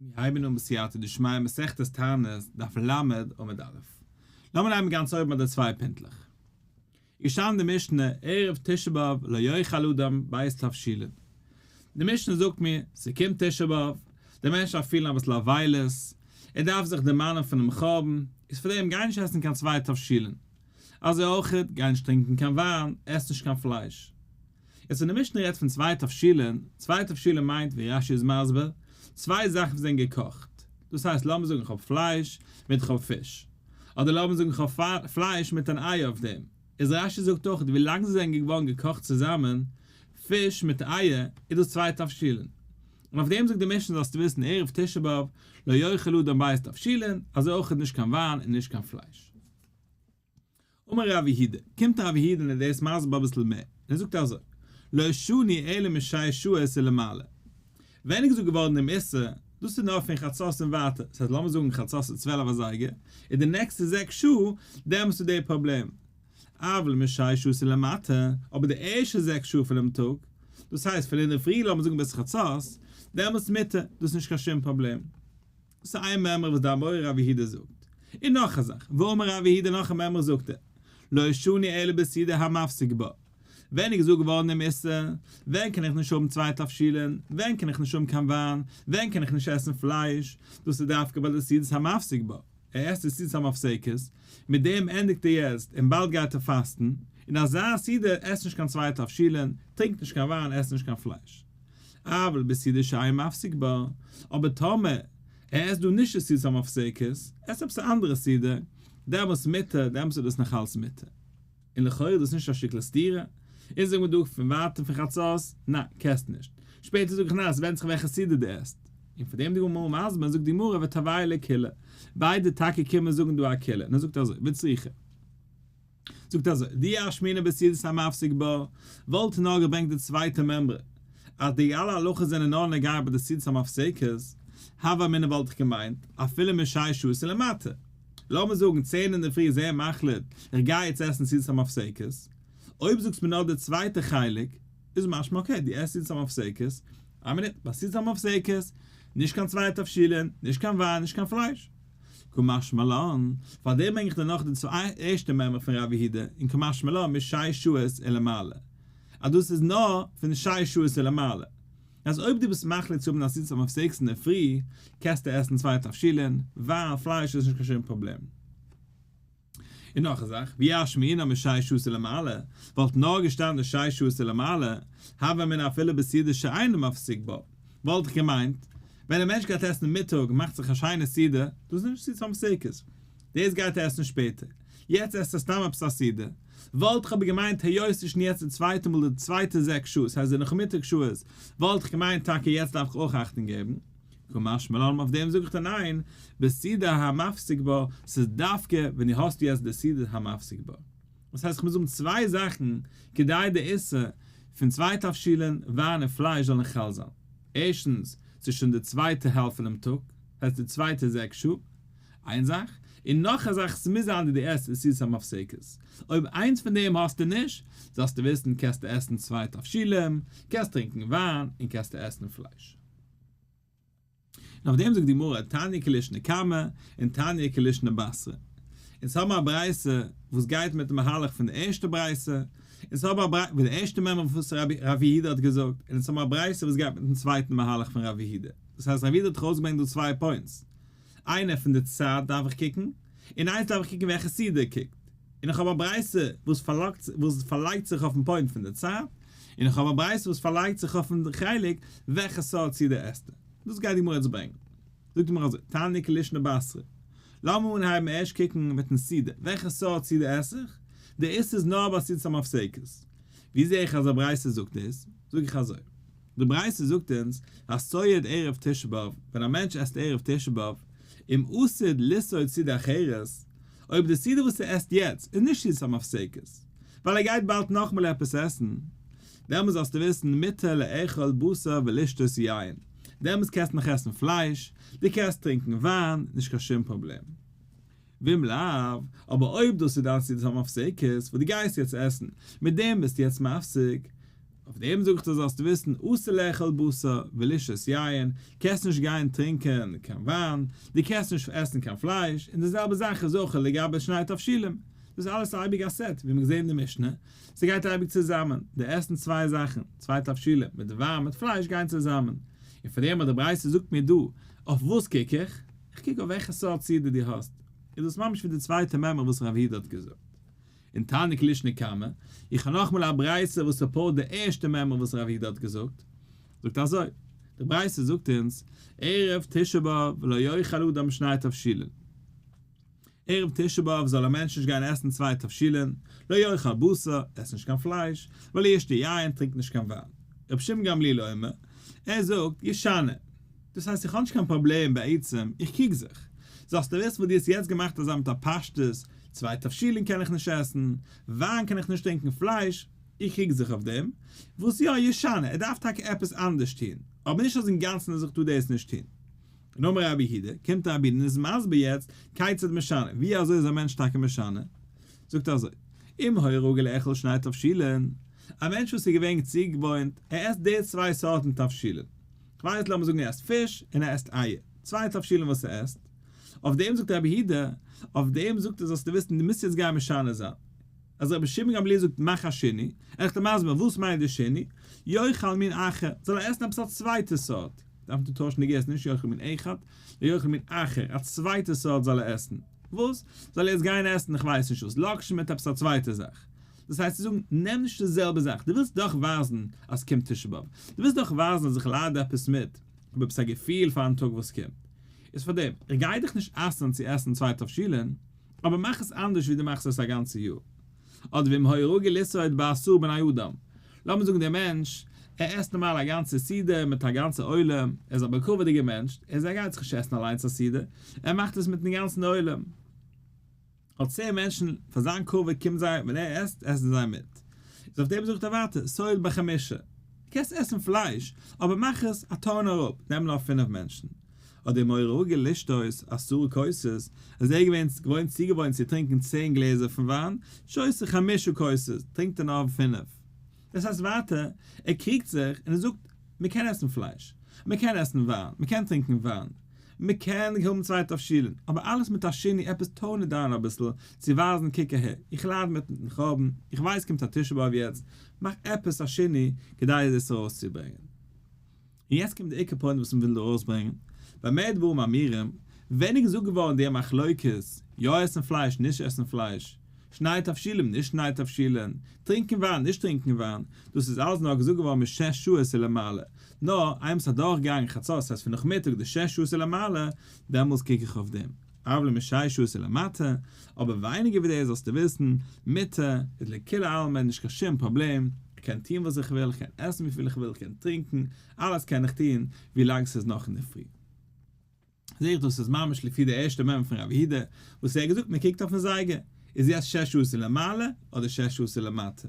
מיר הייבן אן בסייעתא דשמיא מסכת תענית דף ל' עמוד א'. לאמיר הייבן גאנץ אויבן ביי די צוויי פינטלעך. איז געשטאנען די משנה ערב תשעה באב לא יאכל אדם בית תבשילין. די משנה זאגט מיר ס'קומט תשעה באב, די מענטש דארף פילן אביסל אבילות, ער דארף זיך דערמאנען פונעם חורבן, איז פאר דעם גיי נישט עסן קיין צוויי תבשילין. אזוי אויך גיי נישט טרינקען קיין וויין, עס נישט קיין פלייש. יעצט ווען די משנה רעדט פון צוויי תבשילין, צוויי תבשילין מיינט ווי רש י איז מסביר, צוויי זאכן וואס זענען געקאכט, דאס הייסט לאמיר זאגן איך האב פלייש מיט איך האב פיש, אדער לאמיר זאגן איך האב פלייש מיט אן אייער אויף דעם, איז רש י זאגט אויך ווי לאנג זיי זענען געווארן געקאכט צוזאמען, פיש מיט אייער, איז דאס צוויי תבשילין. און אויף דעם זאגט די משנה זאלסטו וויסן ערב תשעה באב לא יאכל אדם בית תבשילין, אזוי אויך איז נישט קיין וויין און נישט קיין פלייש. אמר רב יהודה, קומט רב יהודה און ער דערס מסביר אביסל מער, און ער זאגט אזוי, לא שני אלא משעה שו ע ולמעלה, ווען איז געזאגט געווארן דעם איסור, דאס איז נאר פון חצות און ווייטער, ס'הייסט לאמיר זאגן חצות איז צוועלף אזייגער, און די נעקסטע זעקס שעה, דעמאלטס איז דער פראבלעם, אבל משעה שו ע ולמטה, אבער די ערשטע זעקס שעה פונעם טאג, דאס הייסט פון אינדערפרי לאמיר זאגן ביז חצות, דעמאלטס מותר, דאס איז נישט קיין שום פראבלעם. ס'איין מימרא וואס די אמורא רב יהודה זאגט. און נאך א זאך, ואמר רב יהודה נאך א מימרא זאגט ער, לא שני אלא בסידא המפסיק בה, ווען איז געזאגט געווארן דעם איסור, ווען קען איך נישט האבן צוויי תבשילין, ווען קען איך נישט האבן קיין וויין, ווען קען איך נישט עסן פלייש, דאס איז דווקא ביי די סעודת המפסיק בה, ער עסט די סעודת המפסקת, מיט דעם ענדיגט ער יעצט און באלד גייט ער פאסטן, און אזא סעודה עסט נישט קיין צוויי תבשילין, טרינקט נישט קיין וויין, עסט נישט קיין פלייש. אבל בסעודה שאין מפסיק בה, אבער טאמער ער עסט דא נישט די סעודת המפסקת, עסט עפעס א אנדערע סעודה, דעמאלס מותר, דעמאלס איז דאס נאכאלץ מותר. און לכאורה איז דאס נישט א שטיקל סתירה, אונז זאגן מיר דא פון ווייטען פון חצות, ניין, כ'עס נישט. שפעטער זאג איך ניין, ס'ווענדט זיך וועלכע סעודה דו עסט. און פון דעם די גמרא מסביר, זאגט די גמרא ותבעי לה כלה, ביידע טאקע קומען זאגן דא א כלה, און ער זאגט אזוי, וצריכה. זאגט אזוי, די אשמינא בסעודת המפסיק בה, וואלט נאר געברענגט די צווייטע מעמרא, אז די אלע הלכות זענען נאר נוגע ביי די סעודת המפסקת, הוה אמינא וואלט איך געמיינט, אפילו משש ש ולמטה. לאמיר זאגן צען אינדערפרי איז ער מחליט, איך גיי יעצט עסן סעודת המפסקת, אויב זאגסט מיר נאר די צווייטע חלק, איז משמע אקעי, דו עסט סעודת המפסקת, איין מינוט, ביי סעודת המפסקת, נישט קיין צוויי תבשילין, נישט קיין וויין, נישט קיין פלייש. כמשמעלאן, פאר דעם ברענג איך דיר נאך די צוויי ערשטע מאמר פון רב יהודה אין כמשמעלאן משי שעות און למעלה, אז דאס איז נאר פון שש שעות און למעלה, אז אויב דו ביסט מחליט צו האבן א סיסטעם אויף זעקס אינדערפרי, קענסטו עסן צוויי תבשילין, וויין, פלייש איז נישט קיין שום פראבלעם. און נאך א זאך, ווי אש מעינה משש ש ולמעלה, וואלט נאר געשטאנען שש ש ולמעלה, הווה אמינא אפילו בסעודה שאינו מפסיק בה, וואלט איך געמיינט, ווען א מענטש גייט עסן מיטאג און מאכט זיך א שיינע סעודה, דאס איז נישט צו צום סוכות, דאס גייט ער עסן שפעטער, יעצט עסט ער סתם עפעס א סעודה, וואלט איך אבער געמיינט היות ס'איז שוין יעצט די צווייטע מאל די צווייטע זעקס שעות, ס'הייסט די נאכמיטאג שעות, וואלט איך געמיינט טאקע יעצט דארף איך אויך אכטונג געבן. כמש מלן אויף דעם זאג איך דיר ניין, בסידא המפסיק בה, ס'איז דווקא ווען דו האסט יעצט די סידא המפסיק בה, דאס הייסט איך מוז האבן צוויי זאכן כדי די איסור פון צוויי תבשילין וויין און פלייש זאל נישט חל זיין, ערשטנס ס'איז שוין די צווייטע העלפט פונעם טאג, ס'הייסט די צווייטע זעקס שעה, איין זאך, און נאך א זאך ס'מוז זיין די די עסט די סידות המפסיקות, אויב איינס פון דעם האסטו נישט, זאלסטו וויסן קענסטו עסן צוויי תבשילין, קענסט טרינקן וויין און קענסטו עסן פלייש. און אויף דעם זאגט די גמרא תניא כליש נקמה און תניא כליש נבשרה. אונז האבן א ברייתא וואס גייט מיטן מהלך פון די ערשטע ברייתא, אונז האבן א ברייתא פון די ערשטע מימרא וואס רבי יהודה האט געזאגט, און אונז האבן א ברייתא וואס גייט מיטן צווייטן מהלך פון רבי יהודה. דאס הייסט רבי יהודה האט דאך אויסגעברענגט דא צוויי פוינטס. איינער פון די צד דארף איך קוקן, און איינס דארף איך קוקן ווי א כסדר קוקט, און איך האב א ברייתא וואס פארלאגט וואס פארלייגט זיך אויפן פוינט פון די צד, און איך האב א ברייתא וואס פארלייגט זיך אויפן חלק וועלכע סארט סדר עסט ער. דאס גייט די גמרא יעצט ברענגן. זאגט די גמרא אזוי, תענית כלישנא בעשרה, לאמיר אנהייבן ערשט קוקן מיטן סדר, וועלכע סארט סדר עס איך? די איסור איז נאר ביי סדות המפסקת. ווי זע איך אז א ברייתא זאגט דאס? זאג איך אזוי, די ברייתא זאגט אונז אז סועד ערב תשעה באב, ווען א מענטש עסט ערב תשעה באב, אם אסור לסעוד סעודה אחרת, אויב די סעודה וואס ער עסט יעצט איז נישט סעודת המפסקת, ווייל ער גייט באלד נאכמאל עפעס עסן, דעמאלס זאלסטו וויסן מותר לאכול בשר ולשתות יין, דעמאלס קענסטו נאך עסן פלייש, דו קענסט טרינקן וויין, נישט קיין שום פראבלעם. ואם לאו, אבער אויב דאס איז דיין סעודת המפסקת, וואס דו גייסט יעצט עסן, מיט דעם ביסטו יעצט מפסיק, אויף דעם זאג איך דיר זאלסט וויסן, אסור לאכול בשר, ולשתות יין, קענסט נישט גיין טרינקען קיין וויין, דו קענסט נישט עסן קיין פלייש, און די זעלבע זאך איז אויך לגבי שני תבשילים. דאס איז אלעס אייביג א סעט, ווי מיר געזען אין די משנה, ס'גייט אייביג צוזאמען, די עסן צוויי זאכן, צוויי תבשילים, מיט וויין מיט פלייש גייען צוזאמען, און פאר דעם האט די ברייתא זאגט מיר דא, אויף וואס קוק איך? כ'קוק אויף וועלכע סארט סידי דו האסט, איז דאס ממש ווי די צווייטע מעמא וואס רב היד האט געזאגט אין תענוג ליש נקמה, איך האב נאכאמאל א ברייתא וואס סופארט די ערשטע מעמא וואס רב היד האט געזאגט, זאגט אזוי, די ברייתא זאגט אונז ערב תשעה באב לא יאכל אדם שני תבשילין. ערב תשעה באב זאל א מענטש נישט גיין עסן צוויי תבשילין, לא יאכל בשר, עס נישט קיין פלייש, ולא ישתה יין, טרינק נישט קיין וויין. רבי שמעון גמליאל אומר, ער זאגט, ישנה. דאס הייסט איך האב נישט קיין פראבלעם בעצם, איך קוק זיך. זאלסטו וויסן וואס דו האסט יעצט געמאכט אזא מיט א פשטות, צוויי תבשילין קען איך נישט עסן, וויין קען איך נישט טרינקען פלייש, איך קוק זיך אויף דעם, וואס יא, ישנה, ער דארף טאקע עפעס אנדערש טון, אבער נישט אז אינגאנצן ער זאגט טו דאס נישט טון. און אמר רבי יהודה, קומט א רבי און איז מסביר יעצט, כיצד משנה, ווי אזוי איז א מענטש טאקע משנה, זאגט ער אזוי, אם היה רגל לאכול שני תבשילין, א מענטש וואס איז געווען צוגעוואוינט ער עסט די צוויי סארטן תבשילין, כ'ווייס לאמיר זאגן ער עסט פיש און ער עסט אייער, צוויי תבשילין וואס ער עסט, אויף דעם זאגט רבי יהודה, אויף דעם זאגט ער זאלסטו וויסן דו מוזט יעצט גיין משנה זיין, אז רבי שמעון גמליאל זאגט מאך א שני, עכ ת מסביר וואס מיינט די שני, יאכל מין אחר, זאל ער עסן עפעס א צווייטע סארט, דארף נישט טוישן די געסט, נישט יאכל מין אחד, נאר יאכל מין אחר, א צווייטע סארט זאל ער עסן, וואס? זאל ער יעצט גיין עסן איך ווייס נישט וואס, לאקשן מיט עפעס א צווייטע זאך? דאס הייסט צו זאגן, נעם נישט די זעלבע זאך, דו ווילסט דאך ווייזן אז קומט תשעה באב, דו ווילסט דאך ווייזן אז איך לייד עפעס מיט, איך האב עפעס א געפיל פארן טאג וואס קומט, איז פארדעם, איך גיי דיך נישט אסר'ן צו עסן צוויי תבשילין, אבער מאך עס אנדערש ווי דו מאכסט עס א גאנצע יאר. אדער ווי מהרא ג ליסא את בעשור בני אדם. לאמיר זאגן דער מענטש, ער עסט נארמאל א גאנצע סעודה מיט א גאנצע עולם, ער איז א באקווערדיגער מענטש, ער זאגט ער גייט זיך נישט עסן אליינס א סעודה, ער מאכט עס מיטן גאנצן עולם. אט צען מענטשן פאר זיין קרוב קומט זיי, ווען ער עסט, עסן זיי מיט. איז אויף דעם זאגט ער ווייטער, סועד בחמשה. דו קענסט עסן פלייש, אבער מאך עס א טאון אראפ, נעם נאר פינף מענטשן. האט די מוהרא א געלעשט אויס אסורי כוסות, אז ער איז געווען געוואוינט צוגעוואוינט צו טרינקען צען גלעזער פון וויין, שותה חמשה כוסות, טרינקט ער נאר פינף. דאס הייסט ווייטער, ער קריגט זיך און ער זאגט, מען קען עסן פלייש, מען קען עסן וויין, מען קען טרינקען וויין, מען קען האבן צוויי תבשילין, אבער אלעס מיט א שני, עפעס טאן איט דאון אביסל, צו ווייזן קוק אהער, איך לייד מיט מיטן חורבן, איך ווייס קומט א תשעה באב יעצט, מאך עפעס א שני כדי דאס ארויסצוברענגען. און יעצט קומט די עיקר פוינט וואס מ'וויל דא ארויסברענגען, ביי מער דברים אמירים, ווערן געזאגט געווארן די מחלוקות, יא עסן פלייש, נישט עסן פלייש, שניי תבשילין, נישט שניי תבשילין, טרינקען וויין, נישט טרינקען וויין, דאס איז אלעס נאר געזאגט געווארן משש שעות און למעלה, נאר איינמאל ס'איז אדורכגעגאנגען חצות, ס'הייסט פון נאכמיטאג די שש שעות און למעלה, דעמאלס קוק איך אויף דעם. אבל משאי שהוא עושה למטה, אבער ווייניגער ווי דאס זאלסטו וויסן, מיתה איז לכולי עלמא נישט קיין שום פראבלעם, איך קען טון וואס איך וויל, איך קען עסן וויפיל איך וויל, איך קען טרינקען, אלעס קען איך טון, ווילאנג ס'איז נאך אינדערפרי. זעה איך דאס איז ממש לפי די ערשטע מ מ פון רב יהודה, וואס ער האט געזאגט מ'קוקט אויפן זייגער, איז יעצט שש עשרה למעלה אדער שש עשרה למטה.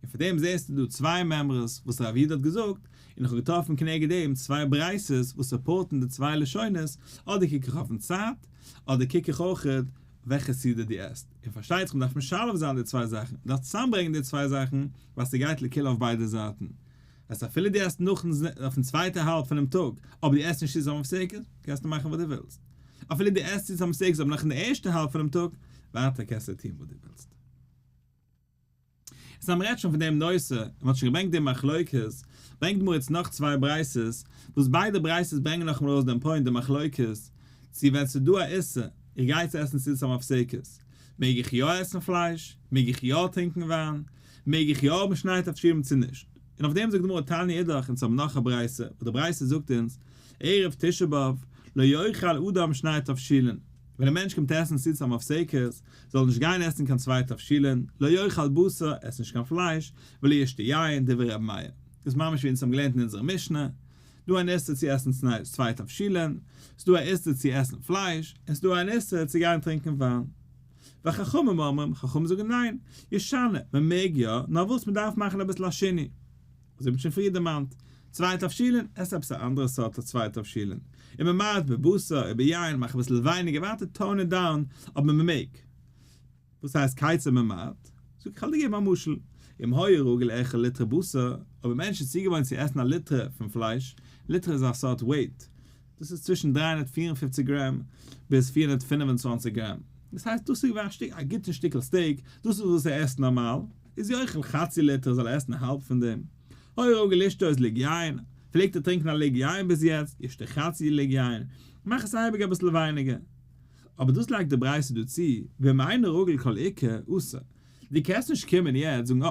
און פון דעם זעסטו דא צוויי מימרות וואס רב איד האט געזאגט, און איך האב געטראפן כנגד דעם צוויי בריית'עס וואס סופארטן די צוויי לשונות, אדער קוק איך אויפן צד, אדער קוק איך אויכעט וועלכע סדר די עסט, און פארשטייט זיך מ'דארף משלב זיין די צוויי זאכן, מ'דארף צוזאמברענגן די צוויי זאכן, ווייל ס'גייט לכאו' אויף ביידע זייטן. הייסט אפילו דו עסט נאכן ז ל אויפן צווייטע האלב פונעם טאג, אבער דו עסט נישט צוזאם אויף סוכות, קענסטו מאכן וואס דו ווילסט. אפילו דו עסט צוזאם סוכות אבער נאכן ערשטע האלב פונעם טאג, ווייטער קענסטו טון וואס דו ווילסט. יעצט אז מ'רעדט שוין פון דעם נושא, און מ'האט שוין געברענגט די מחלוקת, ברענגט די גמרא יעצט נאך צוויי ברייתות, וואס ביידע ברייתות ברענגען נאכאמאל ארויס דעם פוינט, די מחלוקת, צו ווען ס'איז דא א איסור, איך גיי צו עסן סעודה סתם אויף סוכות, מעג איך יא עסן פלייש? מעג איך יא טרינקען וויין? מעג איך יא האבן שניי תכשירים צו נישט? און אויף דעם זאגט די גמרא תענית אידך, אונז האבן נאך א ברייתא, וואס די ברייתא זאגט אונז, ערב תשעה באב, לא יאכל אדם שניי תבשילין, ווען א מענטש קומט עסן סעודה סתם אויף סוכות, זאל נישט גיין עסן קיין צוויי תבשילין, לא יאכל בשר, עס נישט קיין פלייש, ולא ישתה יין, דברי רבי מאיר. דאס איז ממש ווי אונז האבן געלערנט אין אונזערע משנה, דא אן איסור צו עסן צוויי תבשילין, עס איז דא א איסור צו עסן פלייש, עס איז דא אן איסור צו גיין טרינקען וויין. והחכמים אומרים, חכמים זאגן ניין, ישנה, מען מעג יא, נאר וואס מען דארף מאכן אביסל א שיני. וואס איך האב שוין פריער דערמאנט, צוויי תבשילין, עסט עפעס א אנדערע סארט א צוויי תבשילין, און מען מארט בבשר און ביין, מאך אביסל ווייניגער ווייטער טאון איט דאון, אבער מען מעג. וואס הייסט קייצער מען מארט? זאג איך כ'על דיר געבן א משל, אם היה רגל ערך א ליטרה בשר, אויב א מענטש איז צוגעוואוינט צו עסן א ליטרה פון פלייש, ליטרה איז א סארט וועיט, דאס איז צווישן דרײַ הונדערט פֿיר און פֿופֿציק גרעם ביז פֿיר הונדערט פֿינף און צוואַנציק גרעם, דאס הייסט דאס איז געווען א גוטן שטיקל סטעיק, דאס איז וואס ער עסט נארמאל, איז יוכל חצי ליטר זאל ער עסן האלב פון דעם, הוי ראגל לשתות ליג יין, פלעגט ער טרינקן א ליג יין ביז יעצט, ישתה חצי ליג יין, מאך עס אייביג אביסל ווייניגער. אבער דאס לייגט די ברייתא דא צו, ואם אינו ראגל כל עיקר, אסור. דו קענסט נישט קומען יעצט זאגן אה,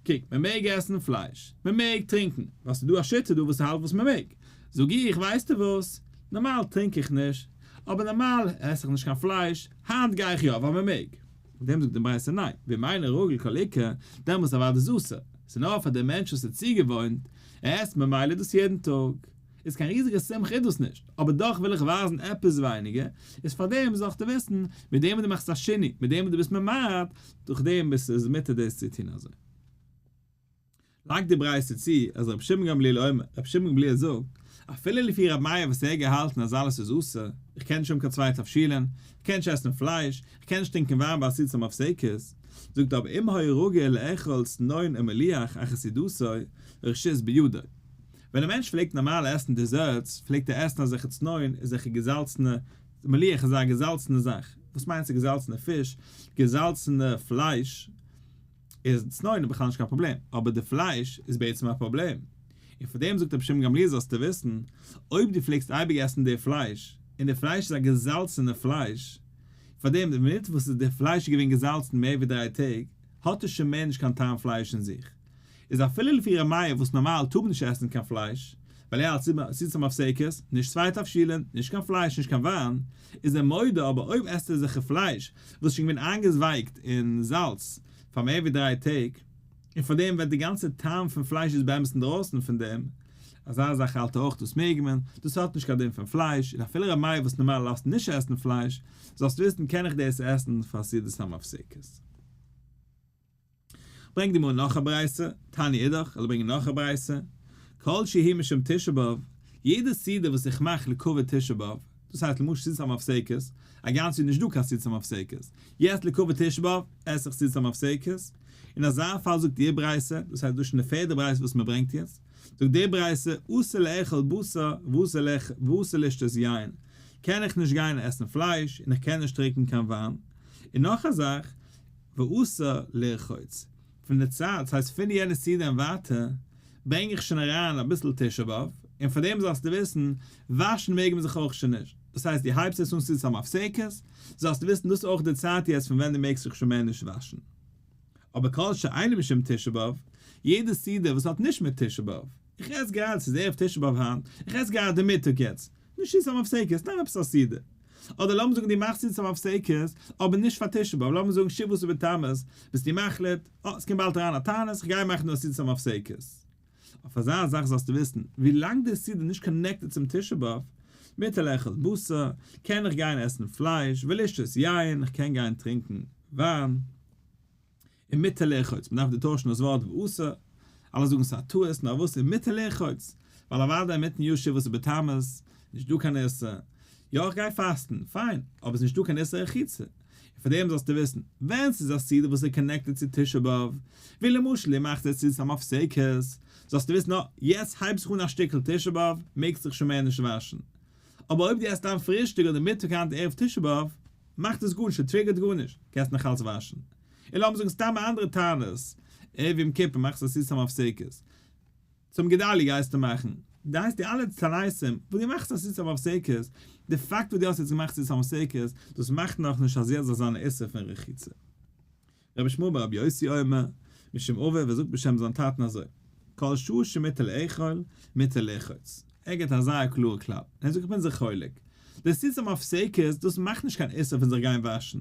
קוק, מען מעג עסן פלייש, מען מעג טרינקן, ווייל ס'איז דא א שיטה דא וואס האלט וואס מען מעג, זאג איך, ווייסטו וואס, נארמאל טרינק איך נישט, אבער נארמאל עס איך נישט קיין פלייש, היינט גיי איך יא ווייל מען מעג. אויף דעם זאגט די ברייתא ניין, ואם אין הרגל כל עיקר, דעמאלס איז אוודאי דאס אסור, ס'איז נאר פאר דעם מענטש וואס איז צוגעוואוינט, ער עסט ממילא דאס יעדן טאג, איז קיין ריזיגע שמחה איז דאס נישט, אבער דאך וויל איך ווייזן עפעס ווייניגער, איז פאר דעם זאלסטו וויסן, מיט דעם וואס דו מאכסט א שני, מיט דעם וואס דו ביסט ממעט, דורך דעם ביסטו איז מותר דאס צו טון אזוי. לייגט די ברייתא צו אז רבי שמעון גמליאל אומר, רבי שמעון גמליאל זאגט, אפילו לפי רבי מאיר וואס ער האט געהאלטן אז אלעס איז אסור, איך קען נישט האבן קיין צוויי תבשילין, איך קען נישט עסן פלייש, איך קען נישט טרינקען וויין ביי עשית המפ סעיקות, זאגט ער אבער אם היה רוגע לאכול צנון ומליח אחרי סעודתו, רשות בידו. ווען א מענטש פלעגט נארמאל עסן דעזערטס, פלעגט ער עסן אזעלכע צנון, אזעלכע געזאלצענע, מליח איז א געזאלצענע זאך, וואס מיינט ס'געזאלצענע פיש, געזאלצענע פלייש, איז סנוידען בכלל נישט קיין פראבלעם, אבער די פלייש איז בעצם א פראבלעם, און פאר דעם זאגט רבי שמעון גמליאל זאלסטו וויסן, אויב דו פלעגסט אייביג עסן די פלייש, און די פלייש איז א געזאלצענע פלייש, פאר דעם די מינוט וואס די פלייש איז געווען געזאלצן מער ווי דריי טעג, האט עס שוין מער נישט קיין טעם פלייש אין זיך, איז אפילו לפי ר' מאיר וואס נארמאל טאר מען נישט עסן קיין פלייש, ווייל ער האלט סיסע מפסקת, נישט צוויי תבשילין, נישט קיין פלייש, נישט קיין וויין, איז ער מודה, אבער אויב עסט ער זיכער פלייש וואס איז שוין געווען איינגעזווייגט אין זאלץ פאר מער ווי דריי טעג, און פאר דעם וועט די גאנצע טעם פון פלייש איז באמת אינדרויסן פון דעם, אזא זאך האלט ער אויך דאס מעג מען, דאס האט נישט קיין דין פון פלייש, און אפילו ר' מאיר וואס נארמאל לאזט נישט עסן פלייש, זאלסט וויסן קען איך דאס עסן פאר סעודות המפסקת. ברענג די מאל נאך א ברייתא, תעני אידך, איך וועל ברענגען נאך א ברייתא, כל שהי' משום תשעה באב, יעדע סעודה וואס איך מאך לכבוד תשעה באב, דאס הייסט למשל סעודת המפסקת, הגם ס'איז נישט דא קיין סעודת המפסקת, יעצט לכבוד תשעה באב עס איך סעודת המפסקת, אין אזא פאל זאגט איר ברייתא, דאס הייסט דאס איז שוין די פערדע ברייתא וואס מען ברענגט יעצט, זאגט איר ברייתא, אסור לאכול בשר ואסור לשתות יין, קען איך נישט גיין עסן פלייש און איך קען נישט טריקן קיין וויין, און נאך א זאך, ועשה לרחוץ. פון די צייט, ס'הייסט פון יענע סידי און ווייטער, ברענג איך שוין אריין אביסל תשעה באב, און פאר דעם זאלסטו וויסן, וואשן מעג מען זיך אויך שוין נישט, דאס הייסט דו הייבסט עס אן ס'איז סתם הפסקות, זאלסטו וויסן דאס איז אויך די צייט יעצט פון ווען דו מעגסט זיך שוין מער נישט וואשן. אבער כל שאינו משום תשעה באב, יעדע סעודה וואס האט נישט מיט תשעה באב, איך עס גראדע, ס'איז ערב תשעה באב היינט, איך עס גראדע מיטאג יעצט, נישט צו צום הפסקות, נעם עפעס א סידור. אדער לאמיר זאגן דו מאכסט צו צום הפסקות, אבער נישט פאר תשעה באב, לאמיר זאגן שבעות ובתמוז, ביסטו מחליט, אה, עס קומט באלד אריין א תענית, כ'גיי מאכן דא א סידור צום הפסקות. אויף אזא זאך זאלסטו וויסן, ווי לאנג די סידור איז נישט קאנעקטעד צום תשעה באב, מותר לאכול בשר, קען איך גיין עסן פלייש, ולשתות יין, כ'קען גיין טרינקן וויין, און מיתה לרחוץ, מען דארף דא טוישן דאס ווארט ועשה, אלע זאגן ס'איז א טעות, נאר וואס איז מיתה לרחוץ? ווייל אוודאי אינמיטן יו ש וואס איז בתמוז, נישט דא קיין איסור, יא איך גיי פאסטן, פיין, אבער ס'איז נישט דא קיין איסור רחיצה, און פאר דעם זאלסטו וויסן, ווען ס'איז א סעודה וואס איז קאנעקטעד צו תשעה באב, ווי למשל איר מאכט עס צו סתם אויף סוכות, זאלסטו וויסן אה, יעצט הייבט זיך אן א שטיקל תשעה באב, מעגסט דיך שוין מער נישט וואשן. אבער אויב דו עסט דיין פרישטאג אדער מיטאג היינט ערב תשעה באב, מאכט עס גארנישט, ס'טריגערט גארנישט, קענסט נאכאלץ וואשן. און לאמיר זאגן סתם א אנדערע תענית, ערב יום כיפור מאכסטו א סיסטעם אויף סוכות, צום גדלי' גייסטו מאכן, דו הייסט די אלע תעניתים וואס דו מאכסט א סיסטעם אויף סוכות, די פאקט וואס דו האסט יעצט געמאכט סיסטעם אויף סוכות, דאס מאכט נאך נישט אז יעצט זאל זיין א איסור פון רחיצה. רבי שמואל בר רבי יוסי אומר, משום אביו, ער זאגט בשם זיין טאטן אזוי, כל שעה שמותר לאכול, מותר לרחוץ. ער גיבט א זייער קלארע כלל. און ער זאגט איך בין זיך חולק, די סיסטעם אויף סוכות, דאס מאכט נישט קיין איסור פון זיך גיין וואשן,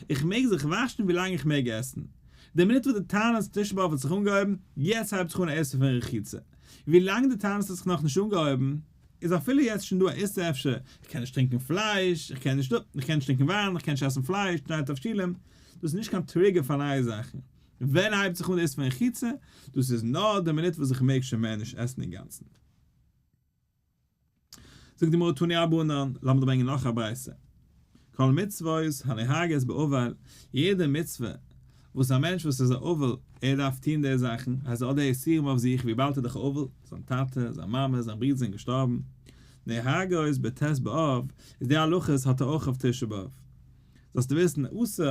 איך מעג זיך וואשן ווי לאנג איך מעג עסן. די מינוט וואס די תענית תשעה באב האט זיך אנגעהויבן, יעצט הייבט זיך אן א איסור פון רחיצה. ווי לאנג די תענית האט זיך נאכנישט אנגעהויבן, איז אפילו יעצט שוין דא א איסור אפשר, איך קען נישט טרינקען פלייש, איך קען נישט דא, איך קען נישט טרינקען וויין, איך קען נישט עסן פלייש, תנאי תבשילין, דאס איז נישט קיין טריגער פאר נייע זאכן. ווען הייבט זיך אן די איסור פון רחיצה? דאס איז נאר די מינוט וואס איך מעג שוין מער נישט עסן אינגאנצן. זאגט די גמרא תני רבנן, לאמיר ברענגען נאך א ברייתא, כל מצוות הנהגת באבל, יעדע מצוה וואס א מענטש וואס איז א אבל ער דארף טון די זאכן, הייסט האט די איסורים אויף זיך וויבאלד ער איז דאך א אבל, זיין טאטע, זיין מאמע, זיין ברודער זענען געשטארבן, נהגות בט' באב, איז די הלכות האט ער אויך אויף תשעה באב. זאלסטו וויסן, אסור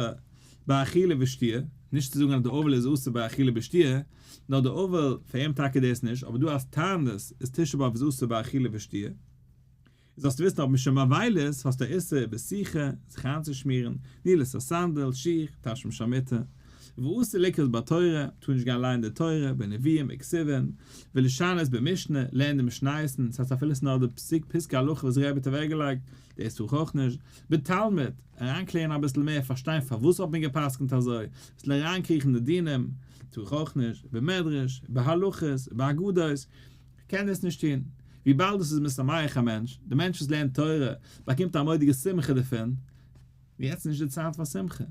ביי אכילה ושתיה, נישט צו זאגן אז די אבל איז אסור ביי אכילה ושתיה, נאר די אבל, פאר אים טאקע דאס נישט, אבער דא אלס טענה'ט איז תשעה באב איז אסור ביי אכילה ושתיה. און זאלסטו וויסן אויב מ'שוין באביילות האסטו א איסור איבער שיחה, זיך איינצושמירן, נעילת הסנדל, שיך, תשמיש המיטה. ואסור לקרות בתורה, טאר נישט גיין ליינען די תורה, בנביאים, בכספין, ולשנות במשנה, לערנען די משניות, ס'הייסט אפילו ס'נאר די פסוק פסקי הלכה וואס ר' בער האט אוועקגעלייגט, דאס טאר איך אויך נישט. בתלמוד, אריינקלערן אביסל מער, פארשטיין פארוואס האט מען גע'פסק'נט אזוי, אביסל אריינקריכן אין די דינים, טו איך אויך נישט, איבער מדרש, איבער הלכות, איבער אגדות, כ'קען דאס נישט טון, וויבאלד עס איז משמח א מענטש, דער מענטש וואס לערנט תורה, באקומט א מודי'גע שמחה דערפון, יעצט איז נישט די צייט פאר שמחה,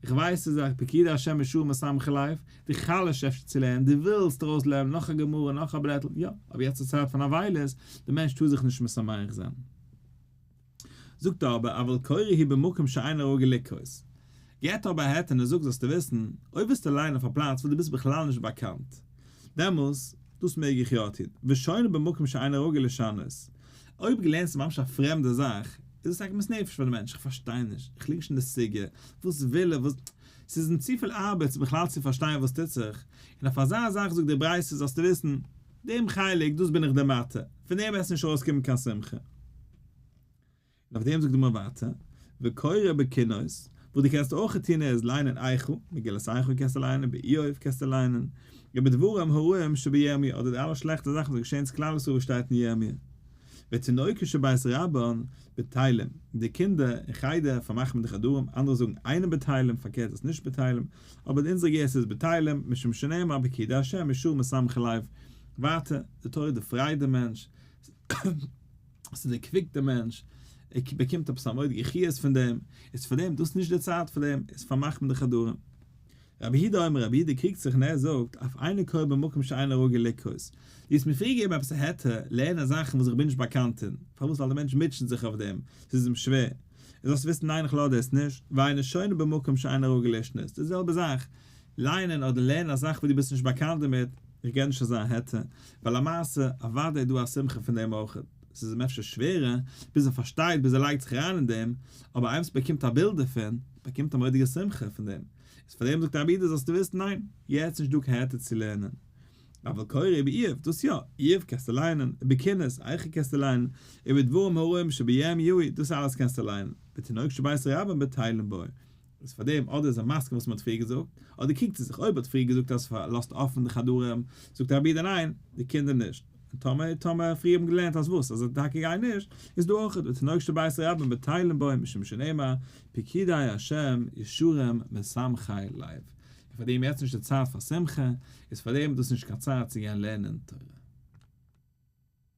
איך ווייס ס'איז א פקידי השם משום מה שמחה לייף, די חלש אפשר צו לערנען, די ווילסט ארויס לערנען נאך א גמרא, נאך א בלעטל, יא, אבער יעצט איז צייט פון אבילות, דער מענטש טאר זיך נישט משמח זיין. זאגט ער אבער אבל קורא היא במקום שאין הראוי לקרות. געט אבער א העט און ער זאגט זאלסטו וויסן, אויב וועסטו ליינען אויף א פלאץ וואס דו ביסט בכלל נישט באקאנט, דעמאלס, דאס מעג איך יא טון, ושונה במקום שאין הראוי לשנות. אויב געלערנט איז ממש א פרעמדע זאך, איז עס עגמת נפש פאר די מענטש, איך פארשטיי נישט, איך ליג נישט אין די סוגיא, וואס וויל ער, וואס. ס'איז אים צופיל ארבעט בכלל צו פארשטיין וואס טוט זיך, און אויף אזא זאך זאגט די ברייתא זאלסטו וויסן, דעם חלק, דאס בין איך די מטה, פון דעם וועסטו נישט ארויסקומען קיין שמחה. און אויף דעם זאגט די גמרא ווייטער, וקורא בקינות, וואס דו קענסט אויך טון איז ליינען איכה, מגילת איכה קענסטו ליינען, באיוב קענסטו ליינען, איבער דברים הרעים שבירמי' אדער די אלע שלעכטע זאכן וואס געשעהן צו כלל ישראל וואס שטייט אין ירמי'. ותינוקות שבית רבן בתהלים, די קינדער אין חדר פארמאכט מען די חדרים, אנדערע זאגן איינער בתהלים, פארקערט איז נישט בתהלים, אבער אין אונזערע גרסה איז בתהלים, משום שנאמר בקרדי השם ישור משמחי לב, ווייטער, די תורה דערפרייט דעם מענטש, ס'איז דער קוויק דער מענטש, ער באקומט עפעס א מורא'דיגע חיות פון דעם, איז פאר דעם דאס נישט דער צייט פאר דעם, איז פארמאכט מען די חדרים. רבי הידא אומר, רבי הידא קריגט זיך און ער זאגט, אויף איינער קוה במקום שאינו רגיל לקרות, דו האסט מיר פריער געגעבן עפעס א היתר לערנען זאכן וואס איך בין נישט באקאנט אין, פארוואס ווייל דער מענטש מוטשעט זיך אויף דעם, ס'איז אים שווער, און זאלסט וויסן ניין איך לאדער עס נישט, ואינו שונה במקום שאינו רגיל לשנות, די זעלבע זאך, לייענען אדער לערנען א זאך וואס דו ביסט נישט באקאנט דערמיט, איך געב נישט אזא העטה, ווייל למעשה אוודאי איז דא א שמחה פון דעם אויך, עס איז אים אפשר שווערער, ביז ער פארשטייט, ביז ער לייגט זיך אריין אין דעם, אבער איימס באקומט א בילד דערפון, באקומט א מורא'דיגע שמחה פון דעם, איז פאר דעם זאגט א אבידה זאלסטו וויסן ניין, יעצט נישט דא קיין העטה צו לערנען, אבל קורא איבער איוב, דאס יא, איוב קענסטו לייענען, איבער קינות, איכה קענסטו לייענען, איבער דברים הרעים שביום יהי', דאס אלעס קענסטו לייענען, ותינוק שבית רבן בתהלים בוי. איז פאר דעם אדער איז ער מסכים וואס מען האט פריער געזאגט, אדער קוקט ער זיך אויב האט פריער געזאגט אז לאזט אפען די חדרים, זאגט די רבי די ניין, די קינדער נישט, און טאמער טאמער פריער האבן געלערנט אז וואס אז טאקע גיי נישט, איז דא אויך ותנאך שבית רבן בטיילין בו משום שנאמר פקידי השם ישורם משמחי לב, איז פאר דעם יעצט נישט די צייט פאר שמחה, איז פאר דעם דאס נישט קיין צייט צו גיין לערנען תורה.